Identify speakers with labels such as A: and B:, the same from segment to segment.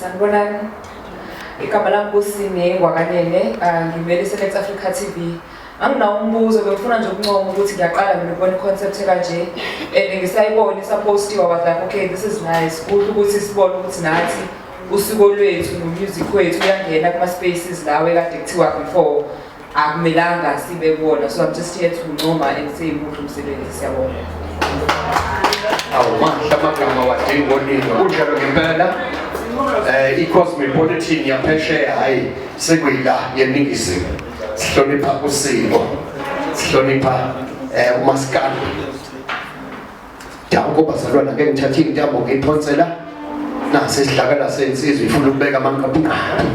A: sanibonani igama lami kusine ngwakanene ah, ngivele isenex africa t v anginawo umbuzo bengifuna nje ukuncoma ukuthi ngiyaqala mina ukubona i-concept ekanje and ngisayibona isapostiwa was like okay this is nice kuhle ukuthi sibone ukuthi nathi usuko lwethu nomusic wethu uyangena kuma-spaces lawo ekade kuthiwa before akumelanga sibe kuwona so
B: i'm just here to ncoma and say muhle umsebenzi siyabonga awumahle amagama wadinga oningi kunjalo ngempela um i-cosmopolitan yaphesheya hhayi sekuyila yeningizimu sihlonipha usiko sihlonipha um umasikana danko bazalwana ke ngithathe intambo ngiyiphonsela nase sidlakala sensizwa ifuna ukubeka amanqaphunqaphu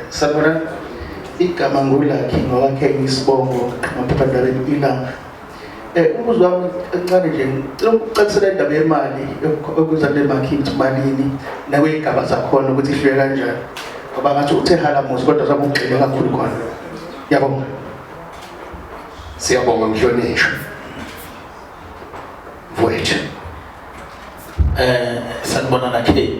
C: Sabona igama ngulakhi ngowakhe ngisibongo ngamaphephandabeni ilanga um umbuzo wami encane nje cela ukucacisela indaba yemali okuza kule makhi ukuthi malini nakwey'gaba zakhona ukuthi ihlule kanjani ngoba ngathi uthe halamuzi kodwa sabe ugxile kakhulu khona yabonga
B: siyabonga mhlonishwa mfowethu um
D: sanibona nakhe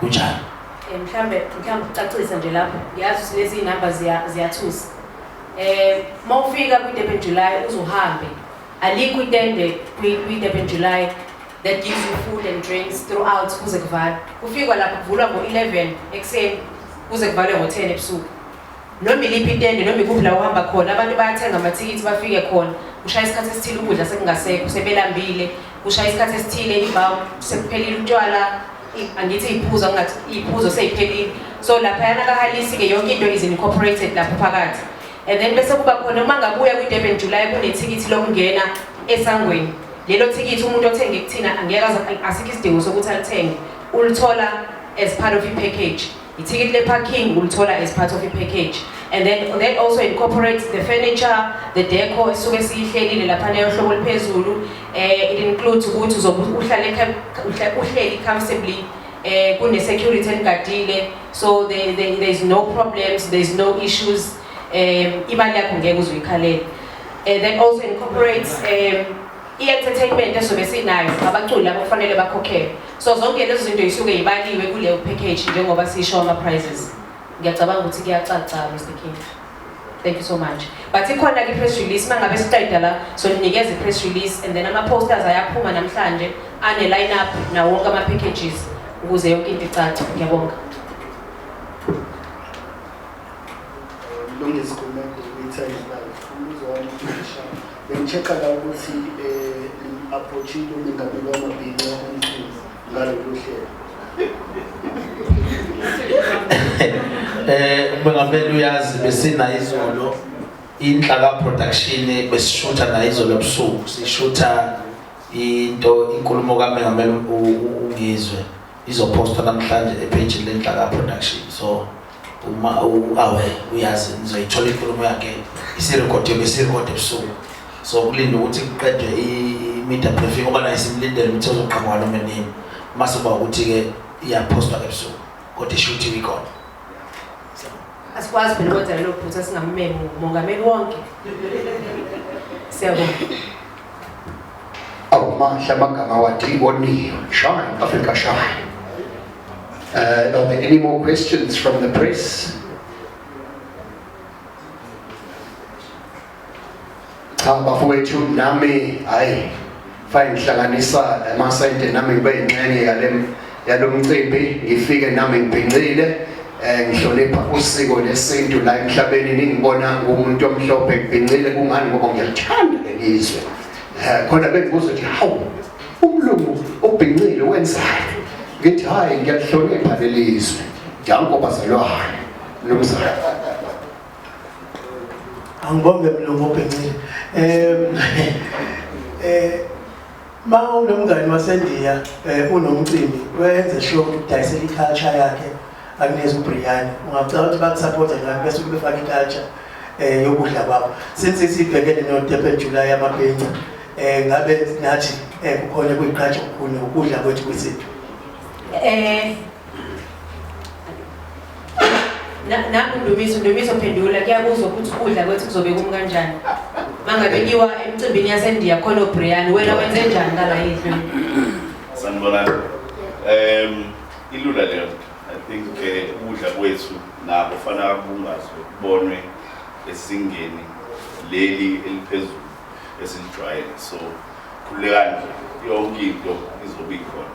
D: kunjalo Eh, mhlambe
E: mhlambe ucacisa nje lapho ngiyazi ukuthi lezi number ziya- ziyathusa eh uma ufika kwi-durban july uzuhambe alikho itende kwi- kwi-durban july that gives you food and drinks throughout kuze kuvalwe kufikwa lapho kuvulwa ngo-11 ekuseni kuze kuvalwe ngo-10 ebusuku Noma iliphi itende noma ikuphi la uhamba khona abantu bayathenga amathikithi bafike khona kushaya isikhathi esithile ukudla sekungasekho sebelambile kushaya isikhathi esithile imbawu sekuphelile utshwala angithi iyiphuzo angathi iyiphuzo seyiphelile so laphayana kahalisi-ke yonke into is incorporated lapho phakathi and then bese kuba khona uma ngabuya kwi-durban july kunethikithi lokungena esangweni lelo thikithi umuntu othenge kuthina angeke asikho isidingo sokuthi alithenge ulithola as part of i-package Ithikithi le-parking ulithola as part of i-package and then that also incorporates the furniture the deco esuke siyihlelile lapha leyo hlobo liphezulu um eh, it includes ukuthi uzobe uhlale uhleli comfortably um kune-security eligadile so there, there, there is no problems there is no issues um imali yakho ngeke uzuyikhalele um that also incorporates um i-entertainment esobe sinayo abaculi labo kufanele bakhokhelwe so zonke lezo zinto yisuke yibaliwe kuleyo package njengoba sisho ama-prizes ngiyacabanga ukuthi kuyacaca mr king thank you so much but ikhona ke press release uma ngabe siqeda la so ninikeza i-press release and then ama-posters ayaphuma namhlanje ane-line up nawo wonke ama-packages ukuze yonke into icace ngiyabonga Lungisikhulumela ukuthi ayizibali. Umbuzo wami ushaya.
D: Bengithexela ukuthi um approachile umengameli wamabhinca omkhulu ngalolu hlelo. Eh umengameli uyazi besina izolo inhlaka production besishutha nayo izolo ebusuku sishutha into inkulumo kamengameli ungizwe izopostwa namhlanje epage lenhlaka production so Uma uawe uyazi nizoyithola inkulumo yakhe isirekhodiwe besirekhode ebusuku. So kulinda ukuthi kuqedwe i-media briefing ngoba naye simlindele ukuthi ozoqhamuka noma nini. Mase kuba ukuthi-ke iyaphostwa ebusuku kodwa isho ukuthi ikhona. Asikwazi phela ukwenza
E: lelo phutha singammemi umongameli wonke. Siyabonga.
B: awumahle amagama wadinga oniyo shine africa shine uh, are there any more questions from the press cha bafowethu nami hayi fayinhlanganisa amasente nami ngibe yinxenye yale yalo mcimbi ngifike nami ngibhincile eh ngihlonipha usiko lesintu la emhlabeni ningibona ngumuntu omhlophe ngibhincile kungani ngoba ngiyathanda lelizwe eh khona bengibuza ukuthi hawu umlungu obhincile wenzani ngithi hayi ngiyahlonipha lelizwe jango bazalwane nomzana
C: angibonge mlungu obhincile eh eh Ma unomngani waseNdiya eh, unomcimbi wenze sure ukuthi udayisela i-culture yakhe akunezi ubriyani ungacela ukuthi bakusapothe ngani bese ukuthi befake i-culture um yokudla kwabo since sibhekene no-durban july amabhenca um eh, ngabe nathi um kukhona kuyiqhatsha okukhulu ukudla kwethu kwesintu um
E: nangu Ndumiso Ndumiso phendula kuyabuzwa ukuthi ukudla kwethu kuzobe kumi kanjani mangabe kiwa emcimbini yaseNdiya khona oBrian wena wenze njani ngala yidlo sanibonani
F: um ilula leyo i think eh, ukudla kwethu nabo fanele kubungazwe kubonwe esingeni leli eliphezulu esilijwayele so khululekani nje yonke into izobe ikhona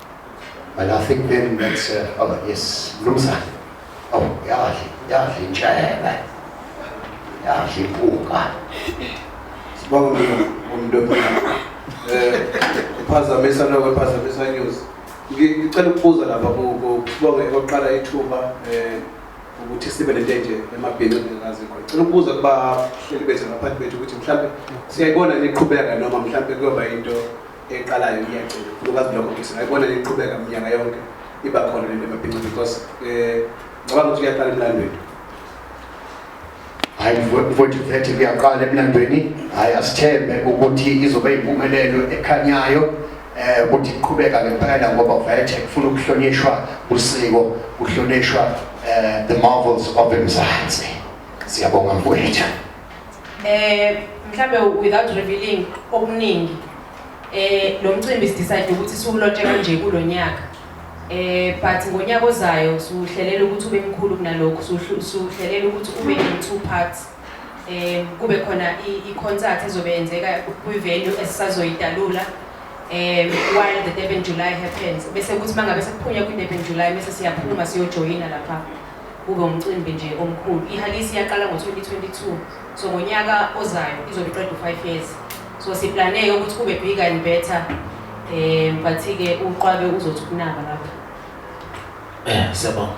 B: And I think then that's, uh, oh yes, Mnumzane. Oh, yadli, yadli intshebe. Yadli impuka.
G: Sibonga umuntu omnyama. Eh, uphazamisa lokho uphazamisa news. Ngi- Ngicela ukubuza lapha ku- ku- kubonge oqala ithuba eh ukuthi sibe nento enje emabhinqi engazi khona. Ngicela ukubuza kuba hleli bethu ngaphansi bethu ukuthi mhlambe siyayibona niqhubeka noma mhlambe kuyoba into eqalayo iyagcina khulukazi kulo mkhosi ngayibona iqhubeka minyaka
B: yonke iba khona le nto emabhinca because um ngicabanga ukuthi uyaqala emlandweni hayi mfowethu vethe kuyaqala emlandweni hayi asithembe ukuthi izobe impumelelo ekhanyayo eh ukuthi iqhubeka ngempela ngoba vethe kufuna ukuhlonishwa usiko kuhlonishwa eh the marvels of emzansi siyabonga mfowethu Eh mhlambe
E: without revealing okuningi eh lo mcimbi sidecide ukuthi siwulotshe kanje kulo nyaka eh but ngonyaka ozayo siwuhlelela ukuthi ube mkhulu kunalokho siwuhlelela ukuthi ube in two parts eh kube khona i-concert ezobe yenzeka kwi-venue esisazoyidalula eh while the Durban July happens bese kuthi mangabe sekuphunya kwi-Durban July bese siyaphuma siyojoyina lapha kube umcimbi nje omkhulu ihalisi yaqala ngo-2022 so ngonyaka ozayo izobe iqeda u-five years so siplaneke ukuthi kube bigger and better um but-ke uqwabe uzothi ukunaba lapho eh,
D: siyabonga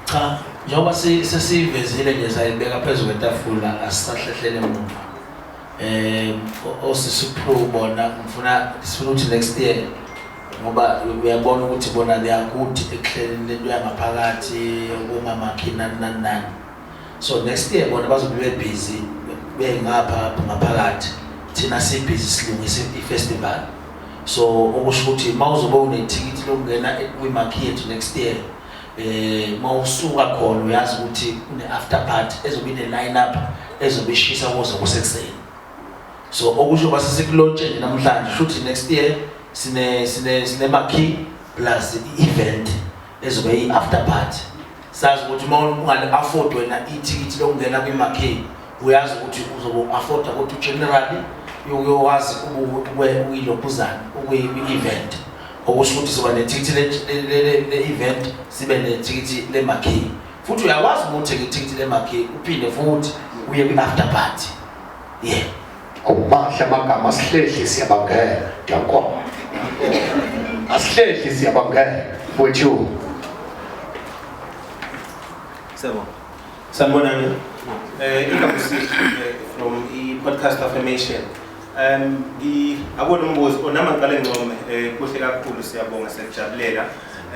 D: cha njengoba sesiyivezile nje sayibeka phezu kwetafula asisahlehlele emuva um osisi uphru bona ngifuna sifuna ukuthi next year ngoba uyabona ukuthi bona liyakuthi ekuhleleni lento yangaphakathi okungamakhi nani nani nani so next year bona bazobe bebhizi bengapha ngaphakathi thina sibhizi silungise i-festival so okusho ukuthi uma uzobe unethikithi lokungena kwimakhi yethu next year um uma usuka khona uyazi ukuthi une-after party ezobe ine-line up ezobe ishisa kuze kusekuseni so okusho uma sesikulotsheni namhlanje shuthi next year sine sine sine makhi plus i-event ezobe i-after party sazi ukuthi uma ungale afford wena ithikithi lokungena kwimakhi uyazi ukuthi uzobe afforda ukuthi generally uyowazi ukuyilophuzana ukwi-event okusho ukuthi siba nethikithi le-event sibe nethikithi lemakhi futhi uyakwazi ukuthi-ke ithikithi lemakhi uphinde futhi uye kwi-after party ye awumahle
B: amagama asihlehli siyabangela ndiyankoma asihlehli siyabangela wethu
G: sebo sanibonani eh igama sihle eh, from i-podcast affirmation um akona umbuzo onama ngicale ngcome um kuhle kakhulu siyabonga siyakujabulela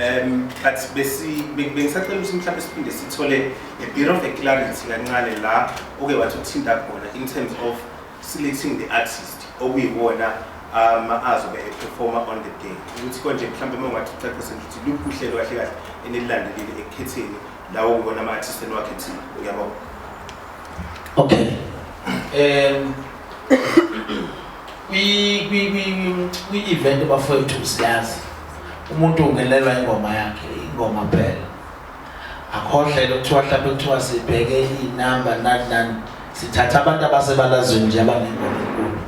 G: um but bengisacela ukuthi mhlawumbe siphinde sithole a bit of a clarity kancane la oke wathi uthinta khona in terms of selecting the artist okuyiwona um azobe eperforma on the day ukuthi konje mhlawumbe uma ungathi ucacise nje ukuthi luphi uhlelo kahle kahle enelilandelile ekukhetheni lawo kubona ama-artist eniwakhethile uyabona okay
D: um kwi-event bafowethu siyazi Umuntu ungenelwa ingoma yakhe, ingoma phela. Akhohle lokuthiwa mhlawumbe kuthiwa sibheke inamba nani nani. Sithatha abantu abasebalazweni nje abanengoma enkulu.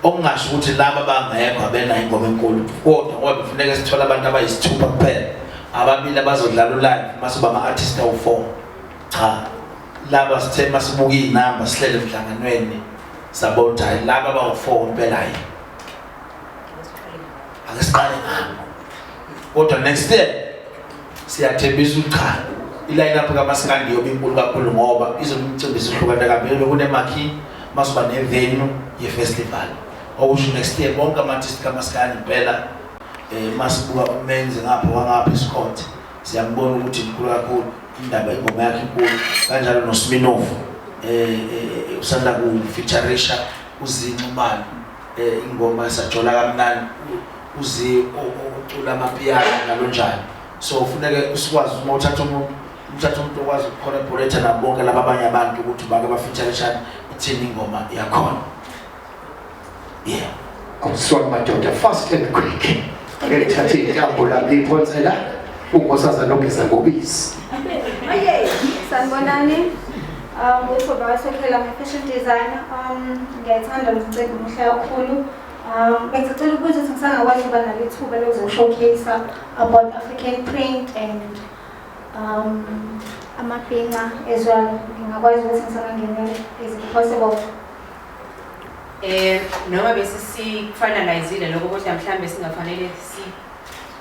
D: Okungasho ukuthi laba bangekho abena ingoma enkulu kodwa ngoba kufuneka sithola abantu abayisithupha kuphela. Ababili abazodlala ulive mase bama artist awu4. Cha. Laba sithe masibuka izinamba sihlele emhlanganweni sabona ukuthi laba bawu4 impela yini. Ake siqale ngami. Kodwa next year siyathembisa ucha iline up kamaskandi yobe inkulu kakhulu ngoba izomcimbi sihlukana kabili kunemakhi masiba nevenue yefestival okusho next year bonke ama-artist kamaskandi impela um masibuka umenzi ngapha wangapha esikhonti siyambona ukuthi mkhulu kakhulu indaba ingoma yakhe inkulu kanjalo nosminovu um usanda kufeaturisha uzinxumalo Eh ingoma sajola kamnandi uzi ocula amapiano njalo njalo. So ufuneke usikwazi uma uthatha umuntu uthatha umuntu okwazi ukucollaborate nabo bonke laba abanye abantu ukuthi bake bafeature shani ithini ingoma yakhona. Yeah.
B: Awusona madoda fast and quick. Ake thathe intambo la liphonsela unkosazana ogeza ngobisi. Aye, sanibonani.
H: Um, uThobias Sokhela, I'm a fashion designer. Um, ngiyayithanda lo mcimbi muhle kakhulu. Um, bengicela ukuthi ngisangakwazi ukuba nalo ithuba lokuzoshowcase about African print and um, amabhinca as well. Ngingakwazi ukuthi ngisangangenela is it possible? Eh
E: noma bese sifanalizile lokho kodwa mhlambe singafanele si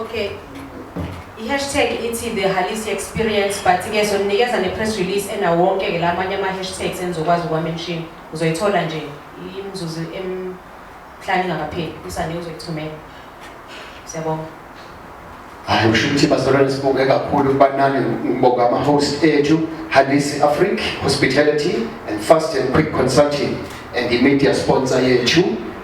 E: Okay. I-hashtag ithi the Halisi experience but ke soninikeza ne-press release enawo wonke ke la amanye ama-hashtags enizokwazi ukuwamenshini uzoyithola nje imizuzu emhlanu ingakapheli usane uzoyithumela siyabonga
B: hayi kusho ukuthi bazalwane sibonge kakhulu ukuba nani ngibonga ama-host ethu halisi afric hospitality and fast and quick consulting and i-media sponsor yethu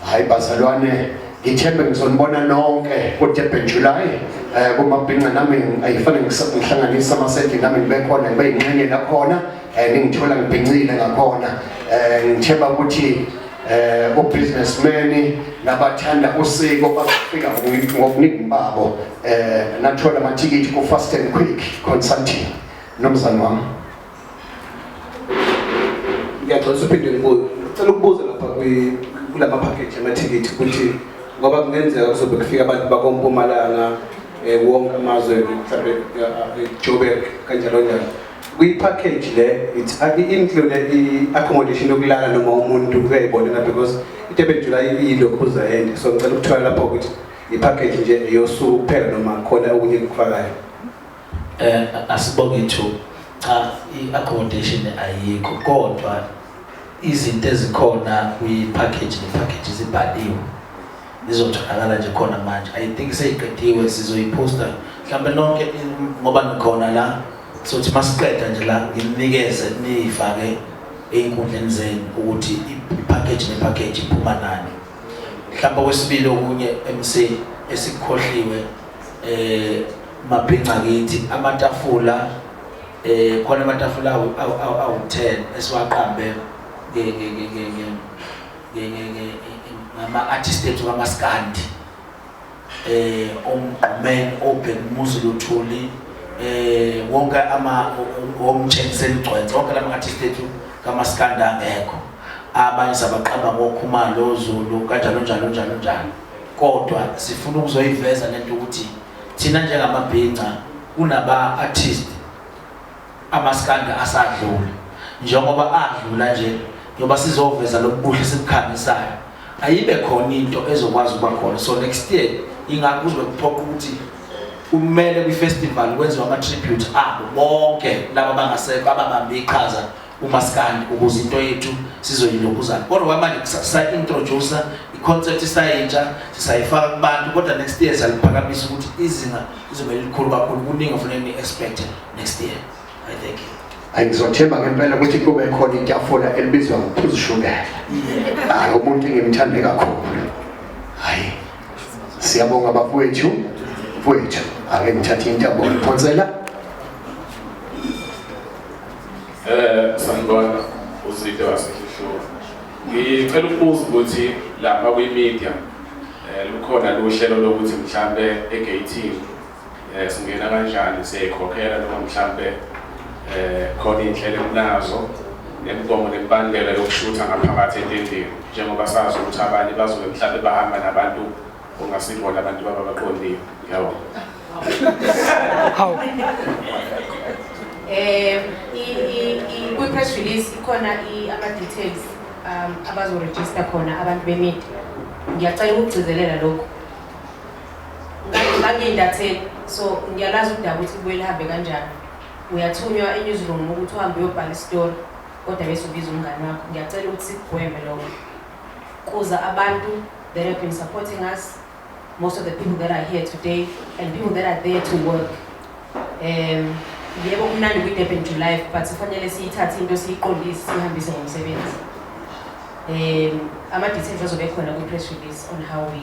B: Hayi bazalwane ngithembe ngizonibona nonke ku-durban july um kumabhinca nami ayifane ngihlanganise amasendli nami ngibe khona ngibe yinxenye lakhona um ningithola ngibhincile ngakhona um ngithemba ukuthi eh ubusinessman nabathanda usiko bazofika ngokuningi babo eh nathola amathikithi ku fast and quick consulting nomzana wami
I: ngiyaxolisa uphinde ngibuye cela ukubuza lapha kula maphakheji amathikithi ukuthi ngoba kungenzeka kuzobe kufika abantu bakompumalanga um eh, wonke amazwe mhlawumbe eh, joburg kanjalo njalo kwi-package le i-include i-accommodation yokulala noma umuntu uyayibonela because i-durban july iyilokhuza ende so ngicela ukuthola lapho ukuthi i-package nje eyosuku kuphela noma khona okunye kufakayo Eh asibonge
D: thu cha i-accommodation ayikho kodwa izinto ezikhona kwi-package ne-package zibhaliwe zizotholakala nje khona manje i think seyiqediwe sizoyiposta mhlawumbe nonke ngoba nikhona la sothi masiqeda nje la nginikeze niyifake ey'nkundleni zenu ukuthi i-package ne-package iphuma nani mhlawumbe okwesibili okunye MC esikhohliwe eh mabhinca kithi amatafula eh khona amatafula awu-10 esiwaqambe ngama-artist ethu kamaskandi eh omgqumeni obhekumuzi luthuli eh wonke ama omtshengisela igcwense wonke lama artist ethu kamaskanda angekho abanye sabaqamba ngokhumalo ozulu kanjalo njalo njalo njalo kodwa sifuna ukuzoyiveza lento ukuthi thina njengamabhinca kunaba artist Amaskanda asadlula njengoba adlula nje njengoba sizoveza lobubuhle sikukhangisayo ayibe khona into ezokwazi ukuba khona so next year ingakho kuzobe kuphoqa ukuthi kumele kwi-festival kwenziwa ama-tribute abo bonke laba bangasekho ababambe iqhaza umaskandi ukuze into yethu sizoyilokuzana kodwa kwamanje sa-introduce i-concept isayintsha sisayifaka kubantu kodwa next year siyaliphakamisa ukuthi izinga lizobe lilikhulu kakhulu kuningi ofuneka ni-expecte next year i thank you hayi ngizothemba ngempela
B: ukuthi kube khona itafula elibizwa ngophuzu shukela hayi umuntu engimthande kakhulu hayi siyabonga bafowethu mfowethu ake ngithathe intambo ngiphonsela
J: eh sanibona uzide wasehlula ngicela ukubuza ukuthi lapha kwi-media um lukhona luhlelo lokuthi mhlawumbe egeyithini Eh, singena kanjani siyayikhokhela noma mhlampe eh khona indlela ekunazo nemigomo nemibandela yokushutha ngaphakathi entendeni njengoba sazi ukuthi abanye bazobe mhlampe bahamba nabantu ongasibona abantu baba baqondile yabo hawu
E: eh kwi-press release ikhona ama-details um abazoregister khona abantu bemidi ngiyacela ukugcizelela lokhu ngangindatheka so ngiyalazi udaba ukuthi kubuye lihambe kanjani uyathunywa enewsroom ukuthi uhambe uyobhala isitori kodwa bese ubiza umngane wakho ngiyacela ukuthi sikugweme lokho kuza abantu that have been supporting us most of the people that are here today and people that are there to work um yebo kumnandi kwi-durban to life but kufanele siyithathe into siyiqondise sihambise ngomsebenzi um ama-details azobe khona kwi-press release on how we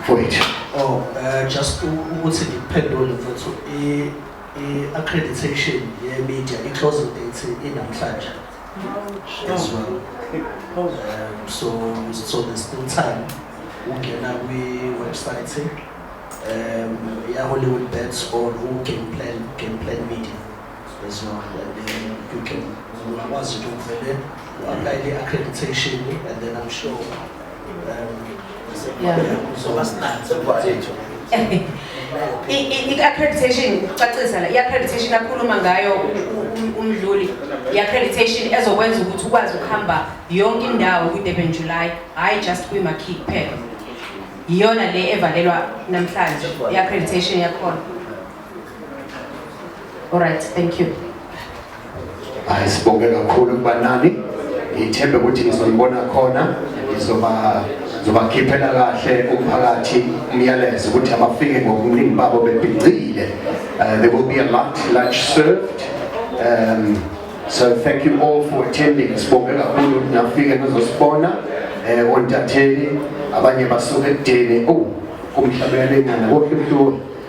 B: mfowethu oh uh,
C: just ukuthi ngiphendule mfowethu i i-accreditation ye-media i-closing date inamhlanje as well um, so so there's still time ungena kwi-website um, ya-hollywood bets or u-game plan, game plan media Ungakwazi ukuthi uvele
E: u-aplayele i-accreditation and then I'm sure uzoba sinanzi kwethu i-accreditation ucacisa la i-accreditation akhuluma ngayo umdluli i-accreditation ezokwenza ukuthi ukwazi ukuhamba yonke indawo kwi-durban july hhayi just kwimakhi kuphela yiyona le evalelwa namhlanje i-accreditation yakhona All right, thank you. Hayi sibonge
B: kakhulu kuba nani. Ngithembe ukuthi nizonibona khona ngizoba zobakhiphela kahle umphakathi umyalezo ukuthi abafike ngobuningi babo bebhincile uh, there will be a lunch, lunch served um, so thank you all for attending sibonge kakhulu ukuthi nafike nizosibona um ontatheli abanye basuke ekudeni oh kumhlabelelengana kohle mhloli